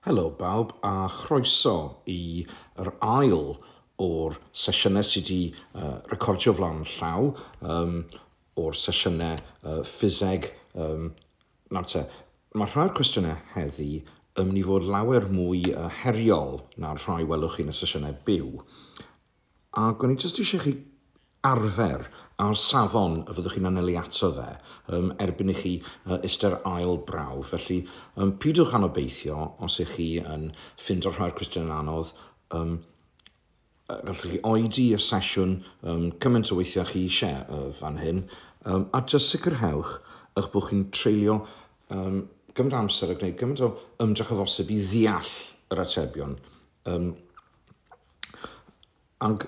Helo bawb a chroeso i yr ail o'r sesiynau sydd wedi uh, recordio flaen llaw um, o'r sesiynau uh, ffiseg. Um, nawr te, mae rhai o'r cwestiynau heddi yn mynd i fod lawer mwy uh, heriol na'r rhai welwch chi yn y sesiynau byw. Ac o'n i jyst eisiau chi arfer ar safon y fyddwch chi'n anelu ato fe um, erbyn i chi uh, ystyr ail brawf. Felly, um, pidwch anobeithio os ych chi yn ffind o'r rhai'r cwestiwn yn anodd. Um, gallwch chi oedi y sesiwn um, cymaint o weithiau chi eisiau uh, fan hyn, um, a jyst sicrhewch eich bod chi'n treulio um, gymaint amser a gwneud gymaint o ymdrech o fosib i ddeall yr atebion Um, ac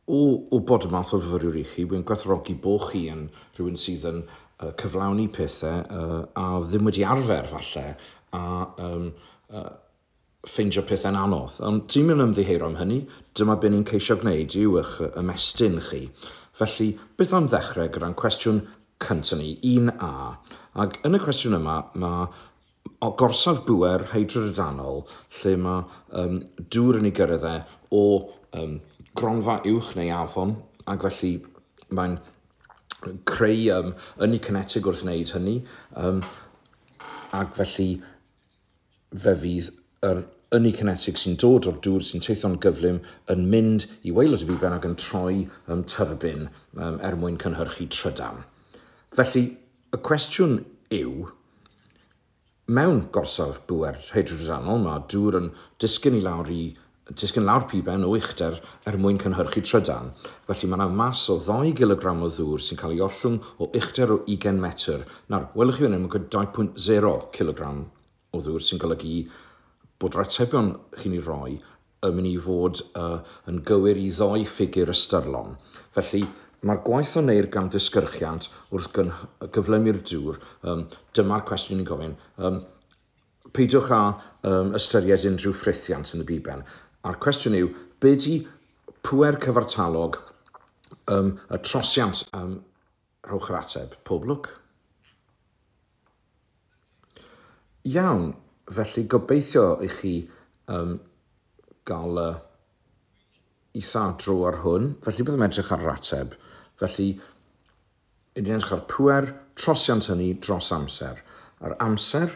o, o bod y math o fyfyriwr i chi, wy'n gwerthrogi bo chi yn rhywun sydd yn uh, cyflawni pethau uh, a ddim wedi arfer falle, a um, uh, ffeindio pethau'n anodd. Ond ti'n mynd ymddiheuro am hynny, dyma beth ni'n ceisio gwneud yw eich ymestyn chi. Felly, beth am ddechrau gyda'n cwestiwn cyntaf ni, 1A. Ac yn y cwestiwn yma, mae o gorsaf bŵer hydrodrydanol lle mae um, dŵr yn ei gyrraedd e o um, gronfa uwch neu afon ac felly mae'n creu um, ynni cinetig wrth wneud hynny um, ac felly fe fydd yr ynni cinetig sy'n dod o'r dŵr sy'n teithio'n gyflym yn mynd i waelod y biben ac yn troi um, tyrbin um, er mwyn cynhyrchu trydan. Felly, y cwestiwn yw, Mewn gorsaf bŵer hydrodynol, mae dŵr yn disgyn i lawr i disgyn lawr piben o uchder er mwyn cynhyrchu trydan. Felly, mae 'na mas o ddou gilogram o ddŵr sy'n cael ei ollwng o uchder o ugain metr. Nawr, welwch chi fan hyn, mae'n gwneud 2.0 cilogram o ddŵr, sy'n golygu bod yr atebion chi'n ei roi yn mynd i fod yn gywir i ddoi ffigur ystyrlon. Felly, mae'r gwaith a wneir gan ddisgyrchiant wrth gyflymu'r dŵr, dyma'r cwestiwn ni'n gofyn, peidiwch â ystyried unrhyw frithiant yn y biben. A'r cwestiwn yw, be di pŵer cyfartalog y trosiant? Rhowch yr ateb. Pob lwc. Iawn, felly gobeithio i chi um, gael y isadro ar hwn. Felly byddwn edrych ar yr ateb. Felly, yn edrych ar pwer trosiant hynny dros amser. Yr amser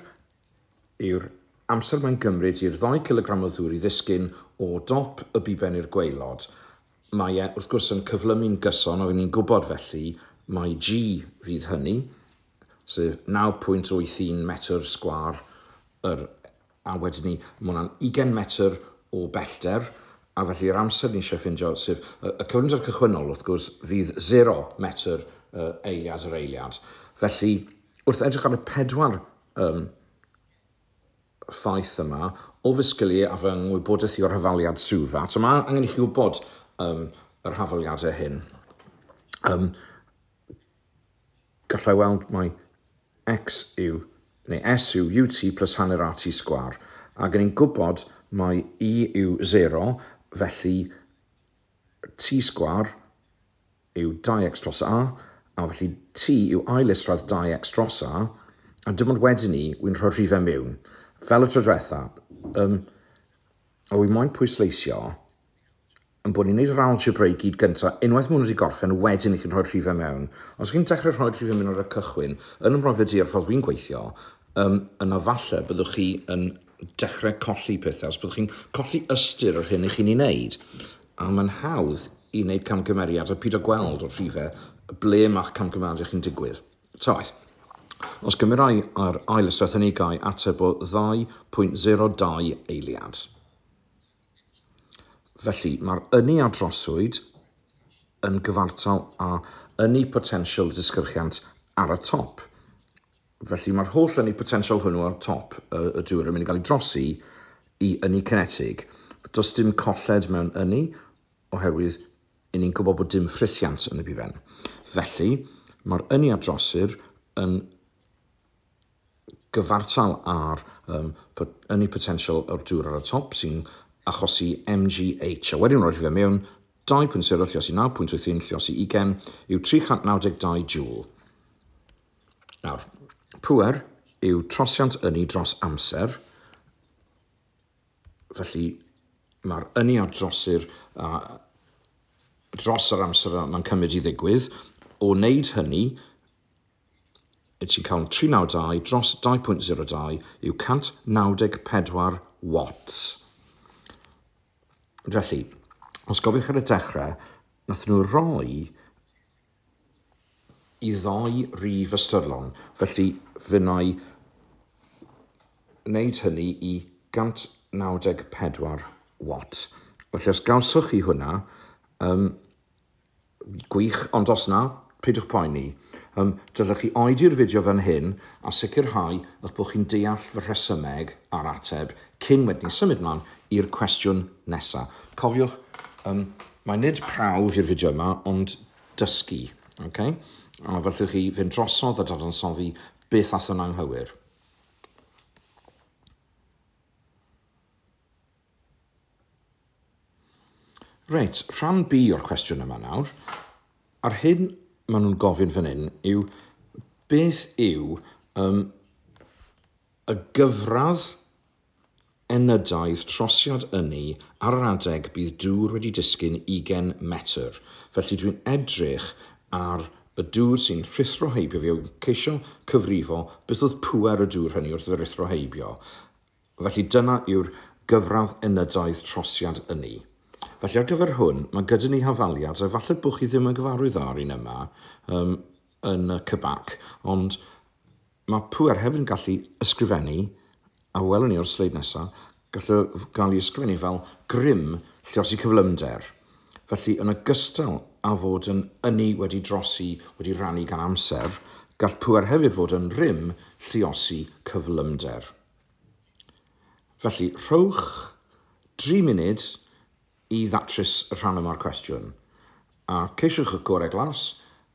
yw'r amser mae'n gymryd i'r ddau cilogram o ddŵr i ddisgyn o dop y biben i'r gweilod. Mae e, wrth gwrs, yn cyflymu'n gyson, a ry'n ni'n gwybod felly mai G fydd hynny, sef 9.81 metr sgwâr yr a wedyn ni, mae hwnna'n 20 metr o bellter, a felly yr amser ni eisiau ffindio, sef y, y cyflymder cychwynnol, wrth gwrs, fydd 0 metr uh, eiliad yr eiliad. Felly, wrth edrych ar y pedwar um, ffaith yma, o fy sgiliau a fy ngwybodaeth i o'r hafaliad swyddfa. Eto, mae angen i chi wybod um, yr hafaliadau hyn. Um, gallai weld mai x yw, neu s yw ut plus hanner rt sgwar. Ac yn ein gwybod mai i yw 0, felly t sgwar yw dau x dros a, a felly T yw ail isradd dau x dros a, a dim ond wedyn ni wy'n rhoi'r rhifau mewn, fel y tro diwetha, um, a wy moyn pwysleisio yn bod ni'n gwneud yr algebra i gyd gyntaf, unwaith mae hwn wedi gorffen, wedyn i chi'n rhoi'r rhifau mewn. Os chi'n dechrau rhoi'r rhifau mewn ar y cychwyn, yn y brofiad di ar ffordd wy'n gweithio, um, yna falle byddwch chi yn dechrau colli pethau, os byddwch chi'n colli ystyr yr hyn i chi'n ei wneud. A mae'n hawdd i wneud camgymeriad a pido gweld o'r rhifau ble mae'ch camgymeriad chi'n digwydd. Taith. Os gymerai yr ail ystwell hynny gai ateb o 2.02 eiliad. Felly, mae'r ynni a droswyd yn gyfartal â ynni potensial y disgyrchiant ar y top. Felly mae'r holl ynni potensial hwnnw ar top y, y dŵr yn mynd i gael ei drosi i ynni cinetig. Does dim colled mewn ynni oherwydd i ni'n gwybod bod dim ffrithiant yn y bifen. Felly, mae'r ynni a drosir yn gyfartal ar um, ynni potensial o'r dŵr ar y top sy'n achosi MGH. A wedyn roedd fe mewn 2.0 lliosi 9.81 lliosi ugen yw 392 joule. Nawr, pŵer yw trosiant ynni dros amser, felly mae'r ynni a drosir a dros yr amser mae'n cymryd i ddigwydd, o wneud hynny, y ti'n cael 392 dros 2.02 yw 194 watts. Felly, os gofiwch ar y dechrau, nath nhw roi y ddau rif ystyrlon, felly fe wna i wneud hynny i 194 watt. Felly os gawsoch chi hwnna, um, gwych, ond os na, peidiwch poeni. Um, dylech chi oedi'r fideo fan hyn a sicrhau eich bod chi'n deall fy rhesymeg a'r ateb cyn wedyn symud mlaen i'r cwestiwn nesaf. Cofiwch um, Mae nid prawf yw'r fideo yma, ond dysgu, ok? A felly chi fynd drosodd a dadansoddi beth ath yn anghywir. Reit, rhan B o'r cwestiwn yma nawr. A'r hyn maen nhw'n gofyn fan hyn yw beth yw um, y gyfradd Enydaidd trosiad ynni ar yr adeg bydd dŵr wedi disgyn ugain metr, felly dwi'n edrych ar y dŵr sy'n rhuthro heibio fi a wi'n ceisio cyfrifo beth oedd pŵer y dŵr hynny wrth fy ruthro heibio, felly dyna yw'r gyfradd enydaidd trosiad ynni. Felly ar gyfer hwn, mae gyda ni hafaliad, a falle bod chi ddim yn gyfarwydd â'r un yma yym yn y CBAC, ond Mae pŵer hefyd yn gallu ysgrifennu, a welwn ni o'r sleid nesaf, gallu gael ei ysgrifennu fel grym lluosi cyflymder. Felly, yn ogystal â fod yn ynni wedi drosi, wedi rannu gan amser, gall pŵer hefyd fod yn rym lluosi cyflymder. Felly, rhowch dri munud I ddatrys y rhan yma'r cwestiwn, a ceisiwch y gorau glas,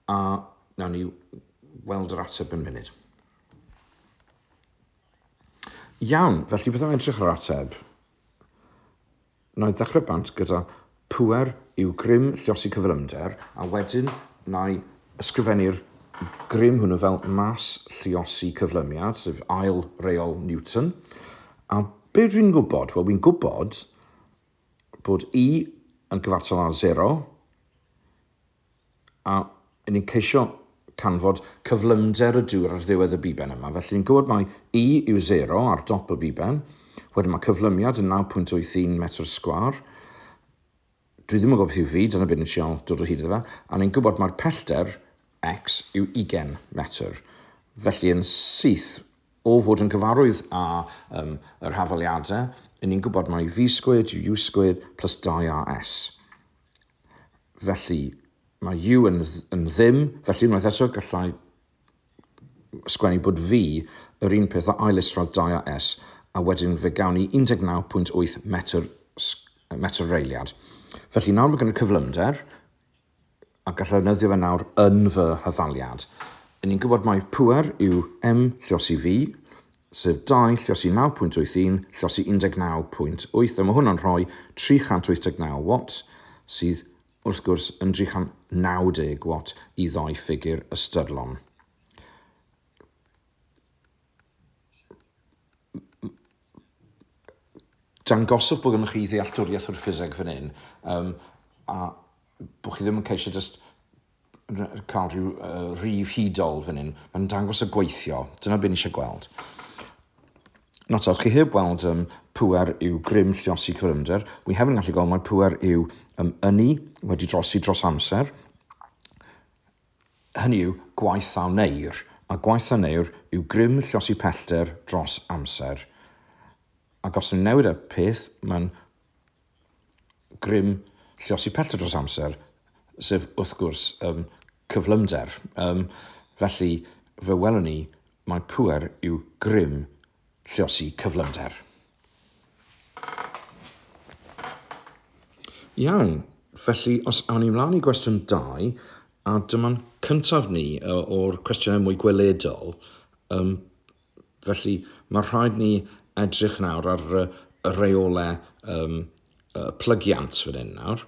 a wnawn ni weld yr ateb yn munud. Iawn, felly byddaf yn trech yr ateb. Na'i ddechrau bant gyda pwer yw grym llosi cyflymder, a wedyn na'i ysgrifennu'r grym hwnnw fel mas lliosi cyflymiad, sef ail reol Newton. A be dwi'n gwybod? Wel, fi'n gwybod bod i yn gyfartal â 0 a yn ni'n ceisio canfod cyflymder y dŵr ar ddiwedd y biben yma. Felly ni'n gwybod mai i yw 0 ar dop y biben. Wedyn mae cyflymiad yn 9.81 metr sgwar. Dwi ddim yn gwybod beth yw fi, dyna beth ni'n siol dod o hyd iddo fe. A ni'n gwybod mae'r pellter x yw 20 metr. Felly yn syth, O fod yn gyfarwydd â um, yr hafaliadau, yn ni'n gwybod mai V squared yw U squared plus 2AS. Felly, mae U yn, yn ddim, felly unwaith eto gallai sgwennu bod V yr un peth o ailesradd 2AS, a wedyn fe gawn ni 19.8 metr, metr reiliad. Felly nawr mae gen y cyflymder, a gallai ddefnyddio fe nawr yn fy hyfaliad. Yn ni'n gwybod mai pŵer yw M llosi V, sef 2 llosi 9.81 llosi 19.8, a mae hwnna'n rhoi 389 watt, sydd wrth gwrs yn 390 watt i ddoi ffigur ystyrlon. dangoswch bod gennych chi ddealltwriaeth o'r ffiseg fan hyn, um, a bod chi ddim yn ceisio just cael rhyw uh, rif hudol fan hyn. Mae'n dangos y gweithio. Dyna beth ni eisiau gweld. Not all, chi heb weld um, pwer yw grym lliosi cyfrymder. Wi hefyd yn gallu gweld mae pwer yw um, ynni wedi drosi dros amser. hynny yw, gwaith a wneir, a gwaith a wneir yw grym llosgi pellter dros amser, ac os ni'n newid y peth, mae'n grym llosgi pellter dros amser, sef wrth gwrs um, cyflymder. Um, felly, fe welwn ni, mae pŵer yw grym Lluosi cyflymder. Iawn, felly os awn ni mlaen i gwestiwn 2, a dyma'n cyntaf ni o'r cwestiynau mwy gweledol, um, felly mae rhaid ni edrych nawr ar y reolau um, plygiant fan hyn nawr.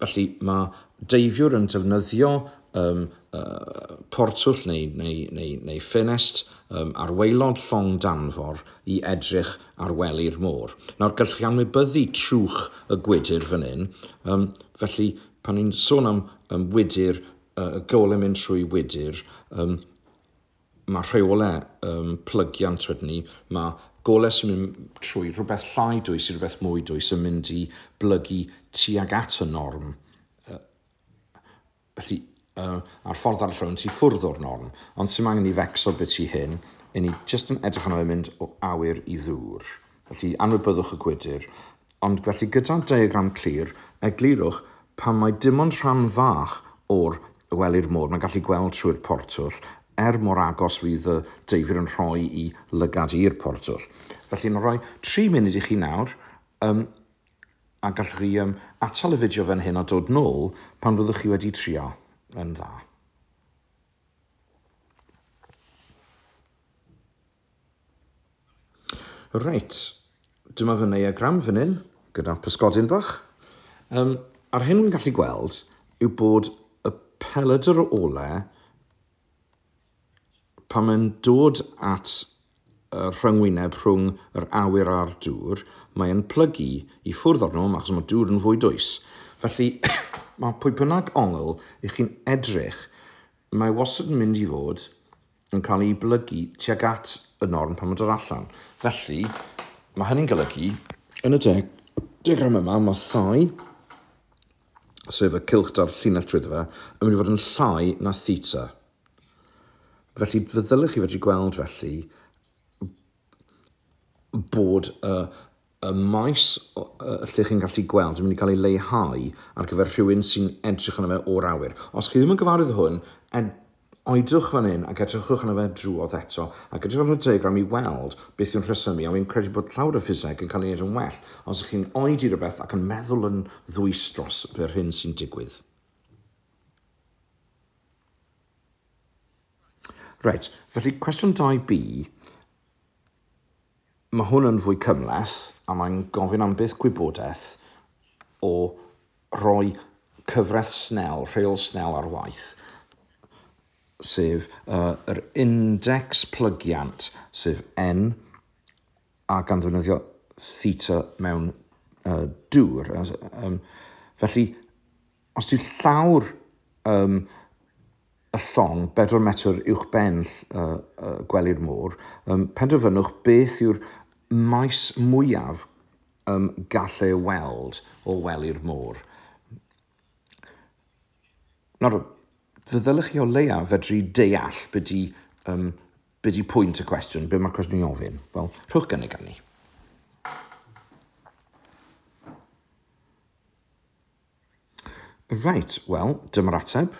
Felly mae deifiwr yn defnyddio um, uh, portwll neu, neu, neu, neu ffenest um, ar waelod llong danfor i edrych ar wely'r môr. Nawr, gallwch chi anwybyddu trwch y gwydr fan hyn. Um, felly, pan ni'n sôn am um, wydr, uh, y gol yn mynd trwy wydr, um, Mae rheolau um, plygiant wedyn ni, mae golau sy'n mynd trwy rhywbeth llai dwys i rhywbeth mwy dwys yn mynd i blygu tuag at y norm. Uh, felly, uh, a'r ffordd arall o'n ti ffwrdd o'r norm, ond sy'n angen i fecso beth i hyn, i ni jyst yn edrych arno fe mynd o awyr i ddŵr. Felly, anwybyddwch y gwydr. Ond felly, gyda'r diagram clir, eglurwch pan mae dim ond rhan fach o'r wely'r môr mae'n gallu gweld trwy'r portwll, er mor agos fydd y deifir yn rhoi i lygad i'r portwll. Felly, mae'n rhoi tri munud i chi nawr, um, a gallwch chi um, atal y fideo fan hyn a dod nôl pan fyddwch chi wedi trio yn dda. Reit, dyma fy neiagram fan hyn, gyda pysgodyn bach. Um, a'r hyn wy'n gallu gweld yw bod y peledr o ole pan mae'n dod at y rhyngwyneb rhwng yr awyr a'r dŵr, mae'n plygu i ffwrdd o'r nhw, achos mae dŵr yn fwy dwys. Felly, mae pwy bynnag ongl i chi'n edrych Mae wastad yn mynd i fod yn cael ei blygu tuag at y norm pan mae'n dod allan. Felly, mae hynny'n golygu, yn y deg, degram yma, mae thai, sef y cylch da'r llinell trwy fe, yn mynd i fod yn llai na theta. Felly, fe ddylech chi fedru gweld felly bod y y maes lle chi'n gallu gweld yn mynd i cael ei leihau ar gyfer rhywun sy'n edrych yna fe o'r awyr. Os chi ddim yn gyfarwydd hwn, ed oedwch fan hyn ac edrychwch yna fe drwodd eto, ac edrych ar y diagram i weld beth yw'n rhesymu, a fi'n credu bod llawr y ffiseg yn cael ei wneud yn well os ych chi'n oedi rhywbeth ac yn meddwl yn ddwys dros yr hyn sy'n digwydd. Reit, felly cwestiwn 2B, Mae hwn yn fwy cymhleth a mae'n gofyn am beth gwybodaeth o roi cyfraith Snell, rheol Snell ar waith, sef yr index plygiant, sef N, a gan ddefnyddio theta mewn uh, dŵr. Um, felly, os yw llawr um, y llong bedwar metr uwchben gwely'r môr, penderfynwch beth yw'r maes mwyaf gall ei weld o wely'r môr. Nawr, fe ddylech chi o leiaf fedru deall beth di, um, be di pwynt y cwestiwn, be mae'r cwestiwn i ofyn. Wel, rhowch gynnig arni. Reit, wel, dyma'r ateb.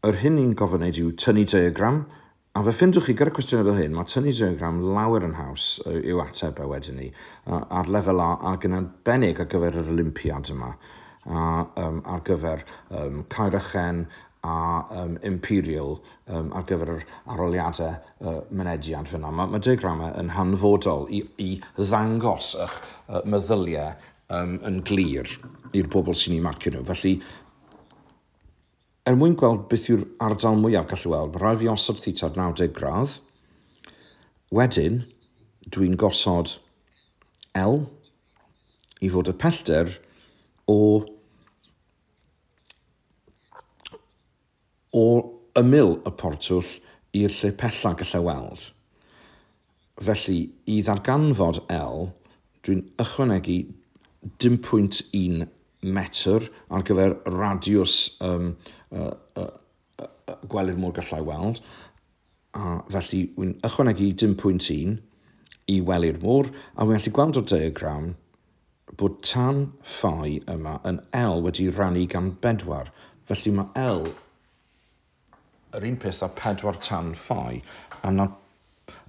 Yr hyn ni'n gofyn wneud yw tynnu diagram, a fe ffindwch chi gyda cwestiynau fel hyn, mae tynnu diagram lawer yn haws yw ateb e wedyn ni, ar lefel A ac yn arbennig ar gyfer yr Olympiad yma a um, ar gyfer um, Caer Ychen a um, imperial um, ar gyfer yr aroliadau uh, mynediad fyna. Mae, mae diagramau yn hanfodol i, i ddangos eich uh, meddyliau um, yn glir i'r bobl sy'n ei marcio nhw. Felly, er mwyn gweld beth yw'r ardal mwyaf gallu weld, mae rhaid fi osod theta 90 gradd. Wedyn, dwi'n gosod L i fod y pellter o o ymyl y portwll i'r lle pella gallai weld. Felly, i ddarganfod L, dwi'n ychwanegu 1.1 metr ar gyfer radiws um, uh, uh, uh, gwely'r môr gallai weld, a felly wy'n ychwanegu 1.1 i wely'r môr, a wy'n gallu gweld o'r diagram bod tan fai yma yn L wedi rannu gan bedwar, felly mae L yr un peth â pedwar tan fai, a na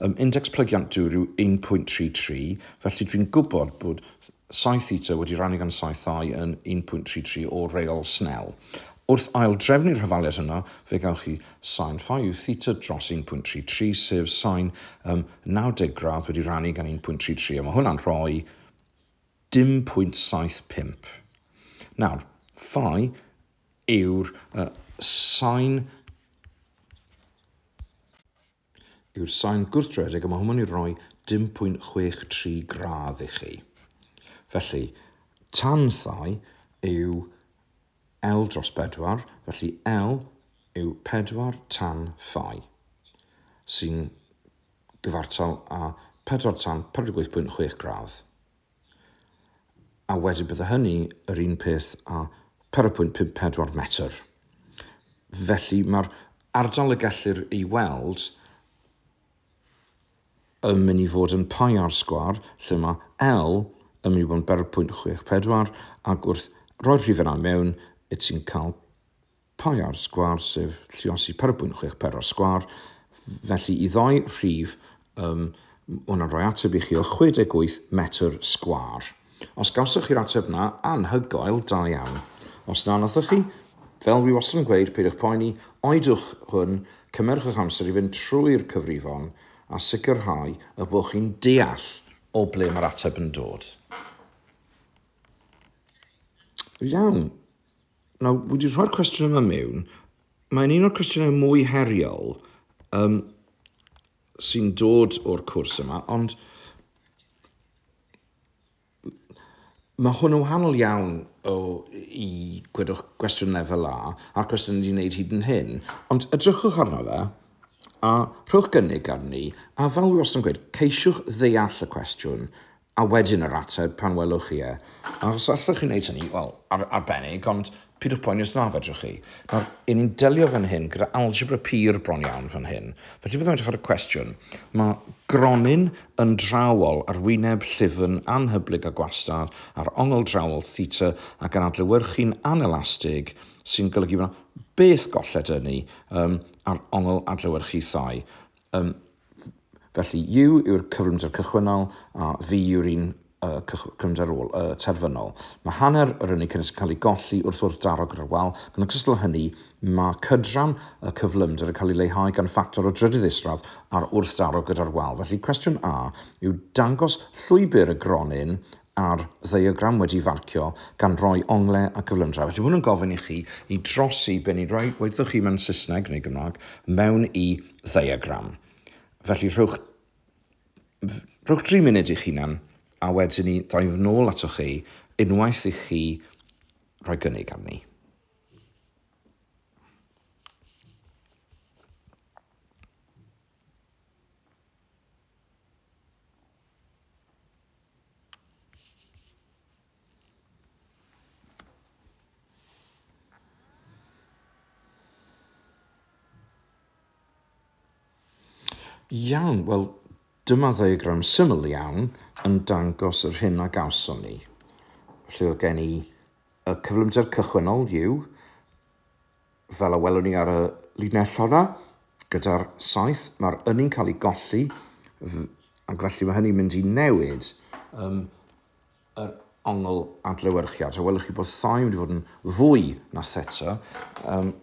um, index plygiant dŵr yw 1.33, felly dwi'n gwybod bod psi theta wedi rannu gan psi thai yn 1.33 o reol Snell. Wrth ail-drefnu'r hyfaliad hynna, fe gawch chi Sain Phi yw theta dros 1.33, sef sain um, 90 gradd wedi rannu gan 1.33, a mae hwnna'n rhoi 10.75. Nawr, phi yw'r uh, sain yw'r sain gwrthredeg a mae hwnna'n ei roi 10.63 gradd i chi. Felly, tan thai yw L dros bedwar, felly L yw pedwar tan phi, sy'n gyfartal â pedwar tan 48.6 gradd. A wedyn bydde hynny yr un peth â 0.54 metr. Felly mae'r ardal y gellir ei weld yn mynd i fod yn Paiar Sgwâr lle mae L yn mynd i fod yn berw pwynt chwech pedwar ac wrth roi'r rhif yna mewn y ti'n cael Paiar Sgwâr sef lluosi perw pwynt chwech pedwar sgwâr felly i ddoi rhif um, hwnna'n rhoi ateb i chi o 68 metr sgwâr. Os gawsoch chi'r ateb 'na, anhygoel, da iawn. Os na, nathoch chi, fel dwi wastad yn gweud, peidiwch poeni, oedwch hwn, cymerwch eich amser i fynd trwy'r cyfrifon a sicrhau y bod chi'n deall o ble mae'r ateb yn dod. Iawn. Nawr, wedi rhoi'r cwestiwn yma mewn, mae'n un o'r cwestiynau mwy heriol, um, sy'n dod o'r cwrs yma, ond mae hwn yn wahanol iawn o i gwedwch gwestiwn lefel A a'r cwestiwn wedi wneud hyd yn hyn, ond edrychwch arno fe a rhowch gynnig arni a fel wastad yn gweud, ceisiwch ddeall y cwestiwn A wedyn yr ateb pan welwch chi e. A os allwch chi wneud hynny, wel, ar, arbennig, ond pidwch poeni os na fedrwch chi. Nawr, yn ni'n delio fan hyn gyda algebra pur bron iawn fan hyn. Felly byddwn edrych ar y cwestiwn. Mae gronyn yn drawol ar wyneb llyfn anhyblyg a gwastad ar ongl drawol theta ac yn adlewyrchu'n anelastig sy'n golygu bod yna beth golled ynni um, ar ongl adlewyrchu thai. Um, Felly, U yw'r cyflymder cychwynnol a V yw'r un y cyflymder ôl, y terfynol. Mae hanner yr ynni cynnes yn cael ei golli wrth wrth daro gyda'r wal, ac yn ogystal â hynny, mae cydran y cyflymder yn cael ei leihau gan ffactor o drydydd isradd ar wrth daro gyda'r wal. Felly, cwestiwn A yw dangos llwybr y gronyn ar ddiagram wedi farcio gan roi ongle a cyflymdra. Felly, mae hwn yn gofyn i chi i drosi be ni'n rhoi, weithwch chi mewn Saesneg neu Gymraeg, mewn i ddiagram. Felly rhowch, rhowch 3 munud i'ch hunan a wedyn ni ddau fy nôl atoch chi unwaith i chi rhoi gynnig arni. Iawn, wel, dyma ddiagram syml iawn yn dangos yr hyn a gawson ni. Felly oedd gen i y cyflymder cychwynnol yw, fel a welwn ni ar y linell honna, gyda'r saith, mae'r ynni'n cael ei golli, ac felly mae hynny'n mynd i newid um, yr ongl adlewyrchiad. So welwch chi bod sioe wedi bod yn fwy na seto um,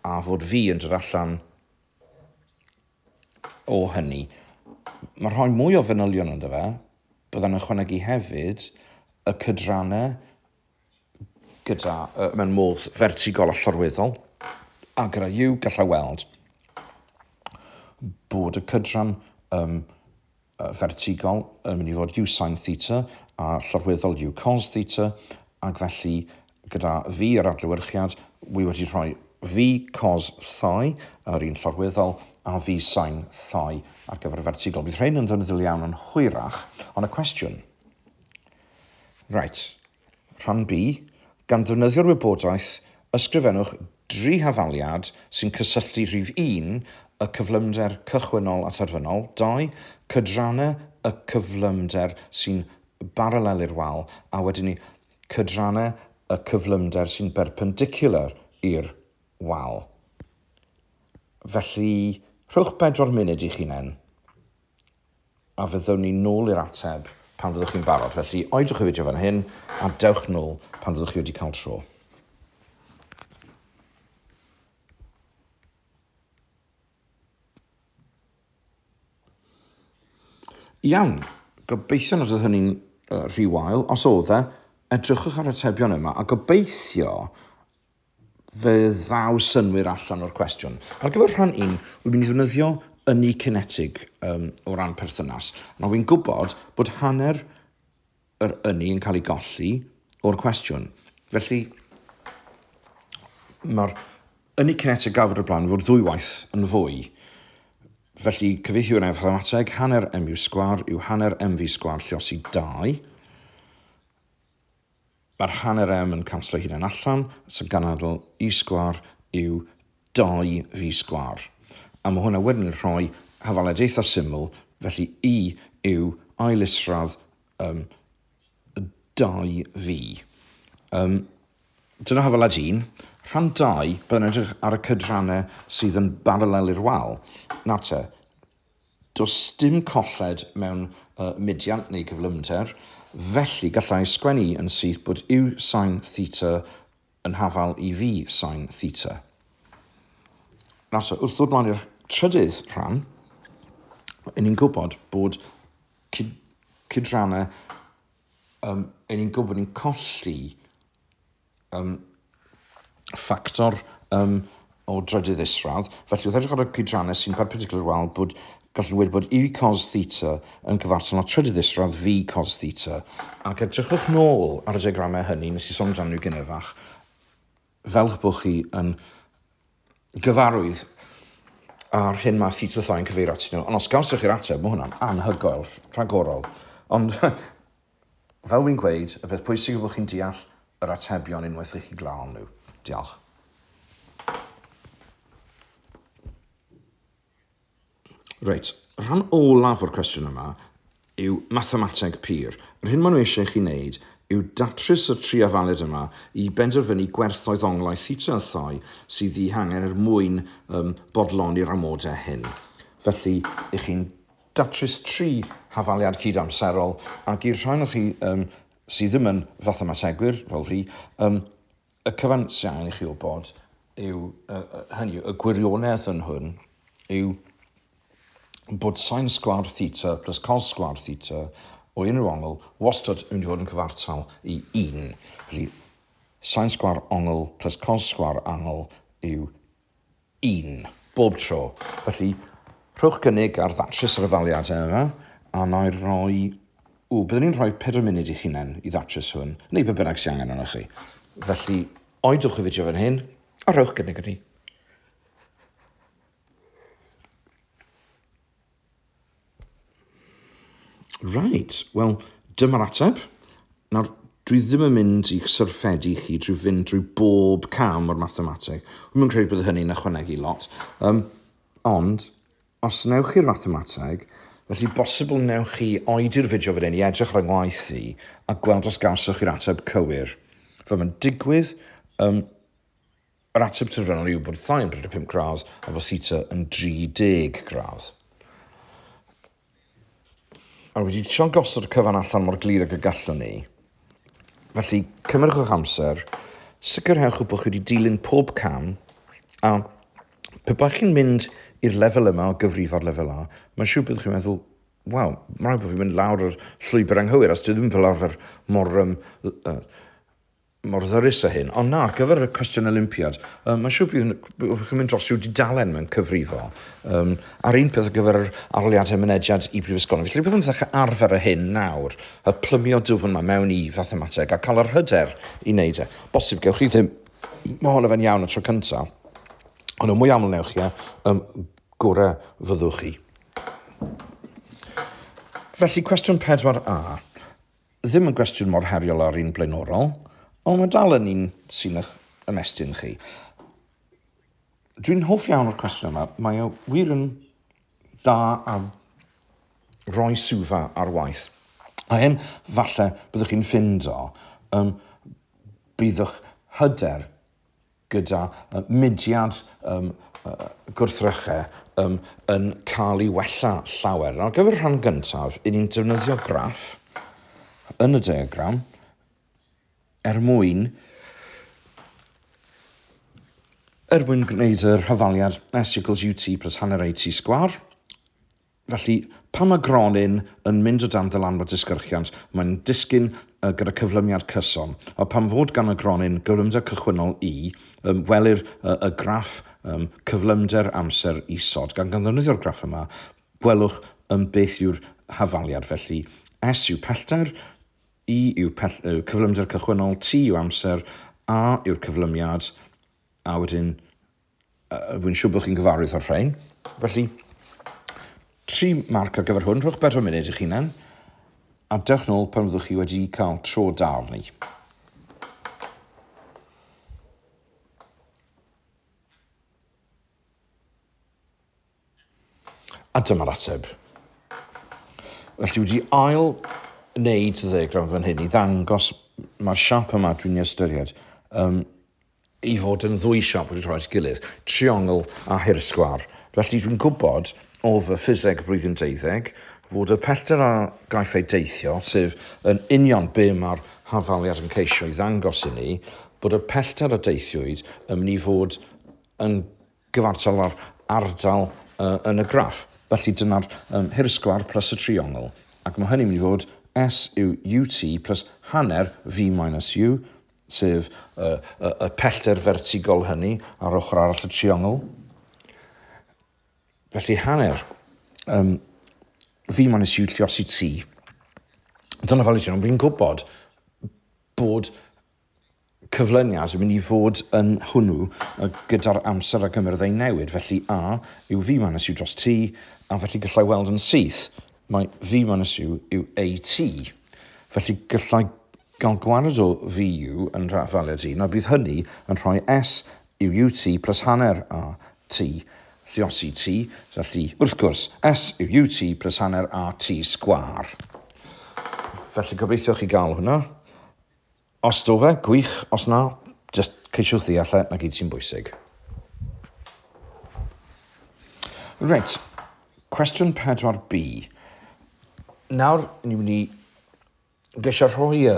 a fod fi yn dod allan o hynny. Mae rhoi mwy o fanylion ynddo fe, byddai'n ychwanegu hefyd y cydrannau gyda uh, mewn modd fertigol a llorweddol, a gyda yw gallai weld bod y cydran um, fertigol yn mynd i fod u sin theta a llorweddol u cos theta, ac felly gyda fi yr adlewyrchiad, wi wedi rhoi v cos thai, yr un llorweddol, a v sin thai ar gyfer y fertigol. Bydd rhain yn ddefnyddiol iawn yn hwyrach, ond y cwestiwn... Reit. Rhan B, Gan ddefnyddio'r wybodaeth, ysgrifennwch dri hafaliad sy'n cysylltu rhif un, y cyflymder cychwynnol a therfynol, dau, cydrannau y cyflymder sy'n baralel i'r wal, a wedyn ni, cydrannau y cyflymder sy'n berpendiciwlar i'r wal. Felly, rhowch bedwar munud i'ch hunain. a fyddwn ni nôl i'r ateb pan fyddwch chi'n barod. Felly, oedwch y fideo fan hyn, a dewch nôl pan fyddwch chi wedi cael tro. Iawn, gobeithio nad oedd hynny'n uh, rhy wael. Os oedd e, edrychwch ar y tebion yma a gobeithio fe ddaw synwyr allan o'r cwestiwn. Ar gyfer rhan un, wy'n mynd i ddefnyddio ynni cinetig um, o ran perthynas. Nawr, wy'n gwybod bod hanner yr ynni yn cael ei golli o'r cwestiwn. Felly, mae'r ynni cinetig gafod y blaen fod ddwy waith yn fwy. Felly, cyfeithiwr efo'r mathemateg, hanner mu sgwar yw hanner mv sgwar llosi 2. Mae'r hanner M yn canslo ei hunan allan, so ganadl Y sgwâr yw 2V sgwâr. A mae hwnna wedyn yn rhoi hafaliad eitha syml, felly Y yw ail isradd um, 2V. Um, dyna hafaliad 1. Rhan 2, byddai'n edrych ar y cydrannau sydd yn baralel i'r wal. Nawr te, Does dim colled mewn y mediant neu gyflymder, felly gallai sgwennu yn syth bod u sin theta yn hafal i v sin theta. Nawr ta, wrth ddod mlaen i'r trydydd rhan, yn ni'n gwybod bod cyd cydrannau, um, yn ni'n gwybod bod ni'n colli um, ffactor um, o drydydd isradd. Felly, wrth edrych ar y cydrannau sy'n perpendicular wal, bod gallu wedi bod i cos theta yn cyfartal â trydydd isradd fi cos theta. Ac edrychwch nôl ar y diagramau hynny nes i sôn amdano nhw gynefach, fel bod chi yn gyfarwydd a'r hyn mae theta thai yn cyfeirio atyn nhw. Ond os gawsoch chi'r ateb, mae hwnna'n anhygoel, rhagorol. Ond Fel wi'n gweud, y peth pwysig yw bod chi'n deall yr atebion unwaith i chi glaw nhw. Diolch. Reit, rhan olaf o'r cwestiwn yma yw mathemateg pur. Yr hyn maen nhw eisiau chi wneud yw datrys y tri afaled yma i benderfynu gwerthoedd onglau theta a thoi sydd eu hangen er mwyn um, bodloni'r amodau hyn. Felly, ych chi'n datrys tri hafaliad cyd-amserol, ac i'r rhai ohonoch chi um, sydd ddim yn fathemategwyr, fel fi, um, y cyfan sy'n angen i chi wybod yw, uh, hynny, y gwirionedd yn hwn yw bod sain sgwar theta plus cos sgwar theta o unrhyw ongl wastad yn mynd i fod yn cyfartal i 1. Felly, sain sgwar ongl plus cos sgwar angl yw un, bob tro. Felly, rhowch gynnig ar ddatrys yr etholiadau yma, a na i roi... Ww, byddwn i'n rhoi pedwar munud i'ch hunain i ddatrys hwn, neu be bynnag sy'n angen arnoch chi. Felly, oedwch y fideo fan hyn, a rhowch gynnig i ni. Right, wel, dyma'r ateb. Nawr, dwi ddim yn mynd i'ch syrffedu chi drwy fynd drwy bob cam o'r mathemateg. Rwy'n credu bod hynny'n ychwanegu lot. Um, ond, os newch chi'r mathemateg, felly bosibl newch chi oedi'r fideo fan hyn i edrych ar y ngwaith i a gweld os gawsoch chi'r ateb cywir. Fe mae'n digwydd, um, Yr ateb terfynol yw bod sain 35 gradd a bod theta yn 30 gradd. A wedi trio gosod y cyfan allan mor glir ag y gallwn ni. Felly, cymrwch amser, sicrhewch bod chi wedi dilyn pob cam, a pe byddwch chi'n mynd i'r lefel yma o gyfrifo'r lefel A, mae'n siŵr byddwch chi'n meddwl, waw, mae'n rhaid bod fi'n mynd lawr yr llwybr anghywir, os dwi ddim fel arfer mor um, uh, mor ddyrus â hyn. Ond na, ar gyfer y cwestiwn Olympiad, um, mae'n siŵr bydd wrth chi'n mynd dros i'w dudalen mewn cyfrifo. Um, a'r un peth ar gyfer yr aroliadau mynediad i brifysgolion. Felly byddwn yn ddechrau arfer y hyn nawr, y plymio dwfn yma mewn i fathemateg a cael yr hyder i wneud e. Bosib gewch chi ddim mae hon efo'n iawn y tro cyntaf, ond y mwy aml newch chi, um, gorau fyddwch chi. Felly, cwestiwn 4a. ddim yn gwestiwn mor heriol â'r un blaenorol, ond mae dal yn un sy'n eich ymestyn chi. Dwi'n hoff iawn o'r cwestiwn yma. Mae o wir yn da a roi sylfa ar waith. A hyn, falle, byddwch chi'n ffind o, um, byddwch hyder gyda mudiad gwrthryche yn cael ei wella llawer. Ar gyfer y rhan gyntaf, i ni'n defnyddio graff yn y diagram er mwyn er mwyn gwneud yr hyfaliad S equals UT plus hanner AT sgwar. Felly, pan mae gronyn yn mynd o dan ddylanwad disgyrchiant, mae'n disgyn gyda cyflymiad cyson. A pam fod gan y gronyn gyflymder cychwynnol i? Welir y graff cyflymder amser isod, gan gan ddefnyddio'r graff yma, gwelwch beth yw'r hafaliad. Felly, S yw pellter, I yw cyflymder cychwynnol, T yw amser, A yw'r cyflymiad, a wedyn Rwy'n siŵr bod chi'n gyfarwydd â'r rhain. Felly, tri marc ar gyfer hwn. Rhowch bedwar munud i'ch hunan a dewch nôl pan fyddwch chi wedi cael tro da arni. A dyma'r ateb. Felly wedi ail wneud y ddegram fan hyn i ddangos mae'r siap yma dwi'n ei ystyried. Um, i fod yn ddwy siop wedi troi at gilydd, triongl a thir sgwâr. Felly dwi'n gwybod o fy ffiseg blwyddyn deuddeg fod y pellter a gaiff ei deithio, sef yn union be mae'r hafaliad yn ceisio ei ddangos i ni, bod y pellter a deithiwyd yn mynd i fod yn gyfartal a'r ardal yn y graff. Felly dyna'r um, hirsgwar plus y triongl. Ac mae hynny'n mynd i fod S yw UT plus hanner V minus U, sef y, y, y pellter fertigol hynny ar ochr arall y triongl. Felly hanner um, V minus U lliosi T. Dyna fel i ti, ond fi'n gwybod bod cyflyniad yn mynd i fod yn hwnnw gyda'r amser ac y myrddau'n newid. Felly A yw V minus U dros T, a felly gallai weld yn syth mae V minus U yw AT. Felly gallai gael gwared o VU yn rafel y dyn, a bydd hynny yn rhoi S yw UT plus hanner AT lliosi T, felly wrth gwrs S yw UT plus hanner AT sgwar. Felly gobeithio chi gael hwnna. Os do fe, gwych, os na, just ceisiwch ddeall e, na gyd sy'n bwysig. Reit, cwestiwn 4B. Nawr, ni'n mynd i geisio rhoi y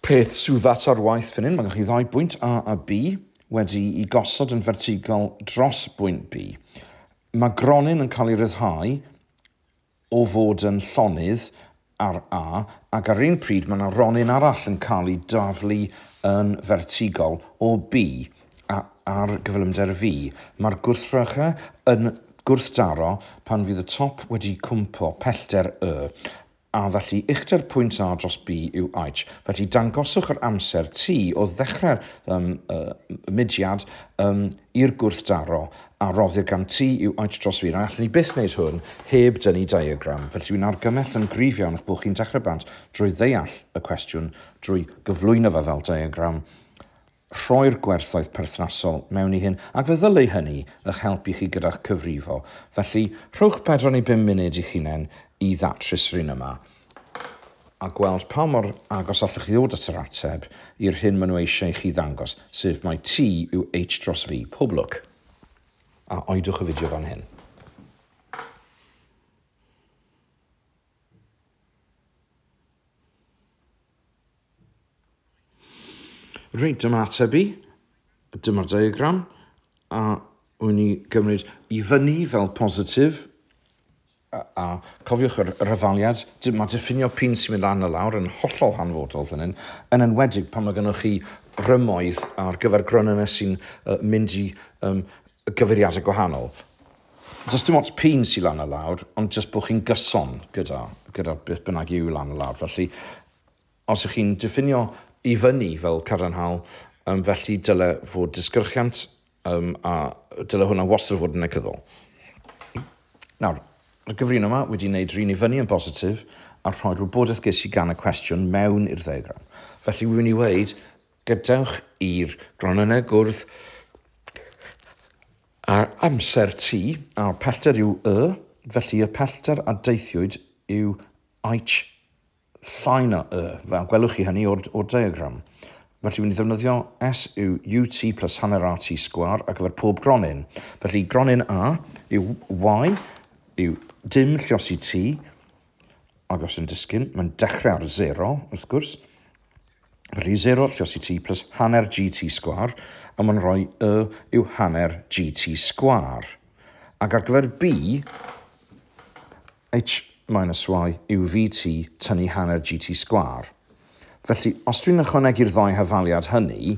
peth sydd at ar waith fan hyn, mae gennych chi ddau bwynt A a B wedi i gosod yn fertigol dros bwynt B. Mae gronyn yn cael ei ryddhau o fod yn llonydd ar A ac ar un pryd mae yna ronyn arall yn cael ei daflu yn fertigol o B a ar gyflymder V. Mae'r gwrthrychau yn gwrthdaro pan fydd y top wedi cwmpo pellter Y, a felly uchder pwynt A dros B yw H. Felly dangoswch yr amser T o ddechrau'r mudiad i'r gwrthdaro a roddir gan ti yw oed dros fi, na allwn i byth wneud hwn heb dynnu diagram, felly wy'n argymell yn gryf iawn eich bod chi'n dechrau bant drwy ddeall y cwestiwn, drwy gyflwyno fe fel diagram, rhoi'r gwerthoedd perthnasol mewn i hyn, ac fe ddylai hynny eich helpu chi gyda'ch cyfrifo. Felly, rhowch bedwar neu bum munud i'ch hunain i ddatrys yr un yma. a gweld pa mor agos allwch chi ddod at yr ateb i'r hyn maen nhw eisiau i chi ddangos, sef mai T yw H dros V, pob lwc! A oedwch y fideo fan hyn. Reit, dyma ateb i. Dyma'r diagram. A wy'n ni gymryd i fyny fel positif. A, a cofiwch yr, yr ofaliad, mae diffinio pin sy'n mynd lan y lawr yn hollol hanfodol fan hyn, yn enwedig pan mae gennych chi rymoedd ar gyfer gronynnau sy'n uh, mynd i um, gyfeiriadau gwahanol. Does dim ots pin sy'n lan a lawr, ond jyst bod chi'n gyson gyda, gyda beth bynnag yw lan a lawr. Felly, Os ych chi'n diffinio i fyny fel cadarnhaol, um, felly dyle fod disgyrchiant um, a dyle hwnna wastad fod yn negyddol. Nawr, mae'r gyfrin yma wedi gwneud rhywun i fyny yn bositif a rhoi'r wybodaeth ges i gan y cwestiwn mewn i'r ddeiagram. Felly, wy'n mynd i weid, gadewch i'r gronynnau gwrdd ar amser T, a'r pellter yw Y, felly y pellter a deithiwyd yw eich llai na y, fel gwelwch chi hynny o'r, o'r diagram. Felly, wy'n ddefnyddio S yw UT plus hanner RT sgwar ar gyfer pob gronyn. Felly, gronyn A yw Y yw dim lliosi T, ac os yn disgyn, mae'n dechrau ar 0, wrth gwrs. Felly, 0 lliosi T plus hanner GT sgwar, a mae'n rhoi Y yw hanner GT sgwar. Ac ar gyfer B, H minus Y yw VT tynnu hanner GT sgwâr. Felly, os dwi'n ychwanegu'r ddau hafaliad hynny,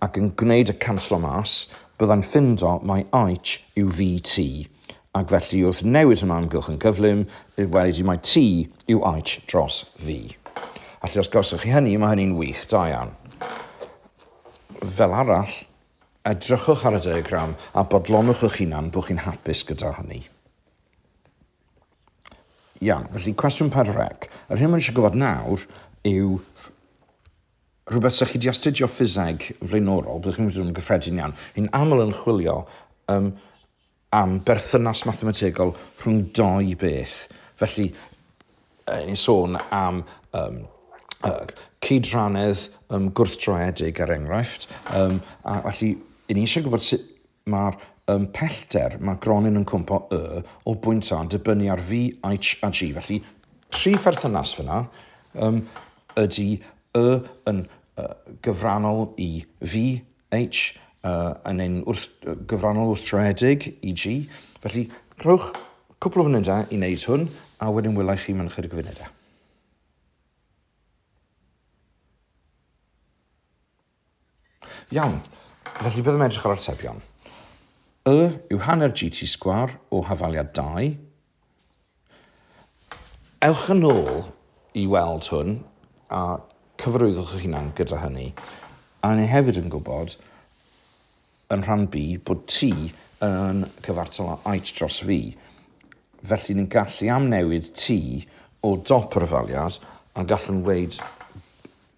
ac yn gwneud y canslo mas, byddai'n ffindo mai H yw VT, ac felly wrth newid hwnna amgylch yn gyflym, bydd wedi di mai T yw H dros V. Felly os gawsoch chi hynny, mae hynny'n wych, da iawn. Fel arall, edrychwch ar y diagram a bodlonwch eich hunan bod chi'n hapus gyda hynny. Iawn, felly cwestiwn par rec. Yr hyn mae'n eisiau gwybod nawr yw rhywbeth sy'ch chi wedi astudio ffiseg flaenorol, byddwch chi'n mynd yn gyffredin iawn, yn aml yn chwilio um, am berthynas mathemategol rhwng doi beth. Felly, eh, ni'n sôn am um, uh, cyd-ranedd um, gwrthdroedig ar er enghraifft, um, a felly, ni'n eisiau gwybod sut Mae'r y pellter, mae gronyn yn cwmpo y o bwynt A yn dibynnu ar V, H a G. Felly, tri pherthynas fyna um, ydy y yn uh, gyfrannol i V, H, uh, yn ein wrth, uh, gyfrannol wrthdraedig i G. Felly, rhowch cwpl o funudau i wneud hwn, a wedyn wylai chi mewn chydig o funudau. Iawn, felly byddwn yn edrych ar atebion. Y yw hanner GT sgwar o hafaliad 2. Ewch yn ôl i weld hwn a cyfarwyddwch eich hunan gyda hynny. A ni hefyd yn gwybod yn rhan B bod T yn cyfartal â H dros V. Felly ni'n gallu amnewid T o dop yr hafaliad a gallwn weid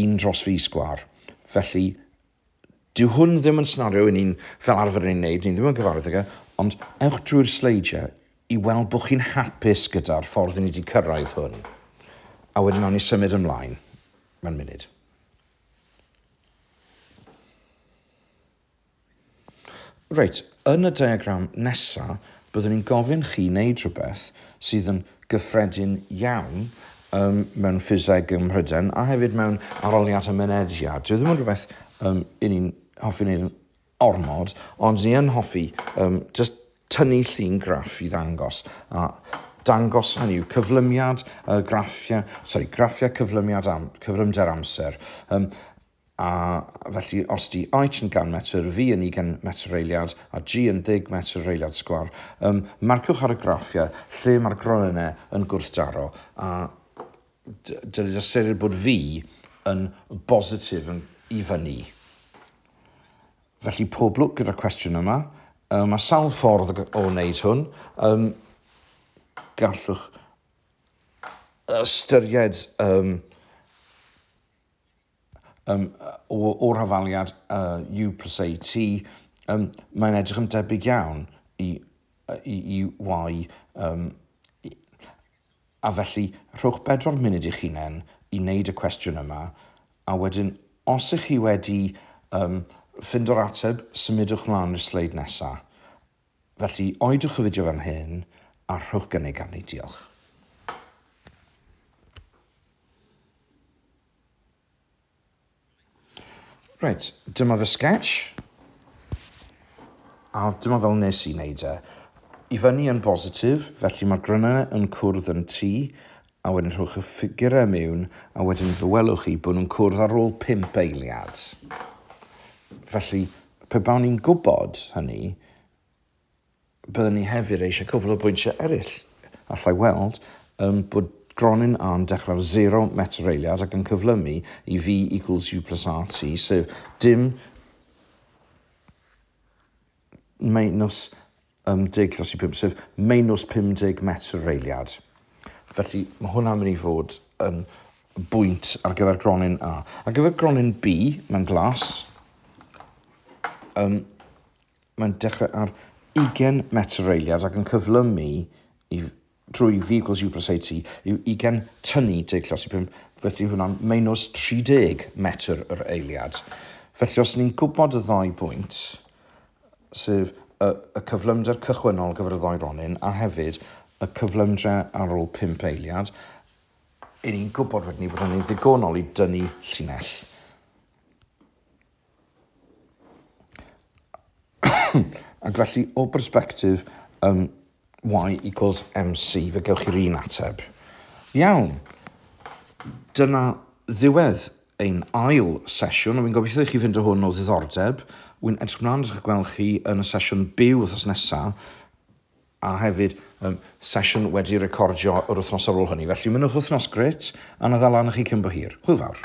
un dros fis sgwâr. Felly, dyw hwn ddim yn scenario i ni'n fel arfer yn ei wneud, ni ddim yn gyfarwydd ag e, ond ewch drwy'r sleidiau i weld bod chi'n hapus gyda'r ffordd i ni wedi cyrraedd hwn. A wedyn awn ni symud ymlaen. Mae'n munud. Reit, yn y diagram nesa, byddwn i'n gofyn chi wneud rhywbeth sydd yn gyffredin iawn um, mewn ffiseg ym Mhryden a hefyd mewn aroliad a mynediad. Dwi ddim yn rhywbeth um, i ni'n hoffi wneud ormod, ond ni yn hoffi um, just tynnu llun graff i ddangos. A dangos hynny yw cyflymiad uh, graffiau, sorry, graffiau cyflymiad am, cyflymder amser. Um, a felly os di H yn 100 metr, V yn 20 metr eiliad a G yn 10 metr yr eiliad sgwar, um, marciwch ar y graffiau lle mae'r gronynnau yn gwrthdaro a dylid ystyried bod V yn bositif yn i fyny. Felly pob lwc gyda'r cwestiwn yma. Um, mae sawl ffordd o wneud hwn. Um, gallwch ystyried um, um, o'r hafaliad uh, U plus AT, um, mae'n edrych yn debyg iawn i, i, i Y. Um, a felly, rhowch bedwar munud i'ch hunain i wneud y cwestiwn yma, a wedyn, os ych chi wedi um, ffindo'r ateb, symudwch mlaen i'r sleid nesaf. Felly, oedwch y fideo fan hyn a rhowch gynnig arni. Diolch. Reit, dyma fy sketch. A dyma fel nes i wneud e. I fyny yn bositif, felly mae'r grynau yn cwrdd yn tu a wedyn rhowch y ffigurau mewn, a wedyn fe welwch chi bod nhw'n cwrdd ar ôl pump eiliad. Felly, pe bawn ni'n gwybod hynny, byddwn ni hefyd eisiau cwbl o bwyntiau eraill. Allai weld um, bod Gronin A'n dechrau ar 0 metr eiliad ac yn cyflymu i V equals U plus RT, sef dim minus um, deg dros i 5, sef minus 50 metr reiliad. Felly mae hwnna'n mynd i fod yn bwynt ar gyfer gronyn A. Ar gyfer gronyn B, mae'n glas, um, mae'n dechrau ar 20 metr reiliad ac yn cyflymu i drwy Vehicles Uber Safety yw ugain tyni deg llos i pump, felly hwnna'n meinws 30 metr yr eiliad. Felly os ni'n gwybod y ddau bwynt, sef y, y cyflymder cychwynnol gyfer y ddoi ronyn a hefyd y cyflymder ar ôl pump eiliad, i ni'n gwybod wedyn ni bod hynny'n ddigonol i dynnu llinell. Ac felly, o bersbectif um, y equals mc, fe gewch chi'r un ateb. Iawn, dyna ddiwedd ein ail sesiwn, a fi'n gobeithio i chi fynd o hwn o ddiddordeb. Wy'n edrych mlaen at gweld chi yn y sesiwn byw wrthnos nesaf, a hefyd um, sesiwn wedi recordio yr wythnos ar ôl hynny. Felly, mynwch wythnos gret, a na ddal lan chi cyn bo hir. Hwyl fawr.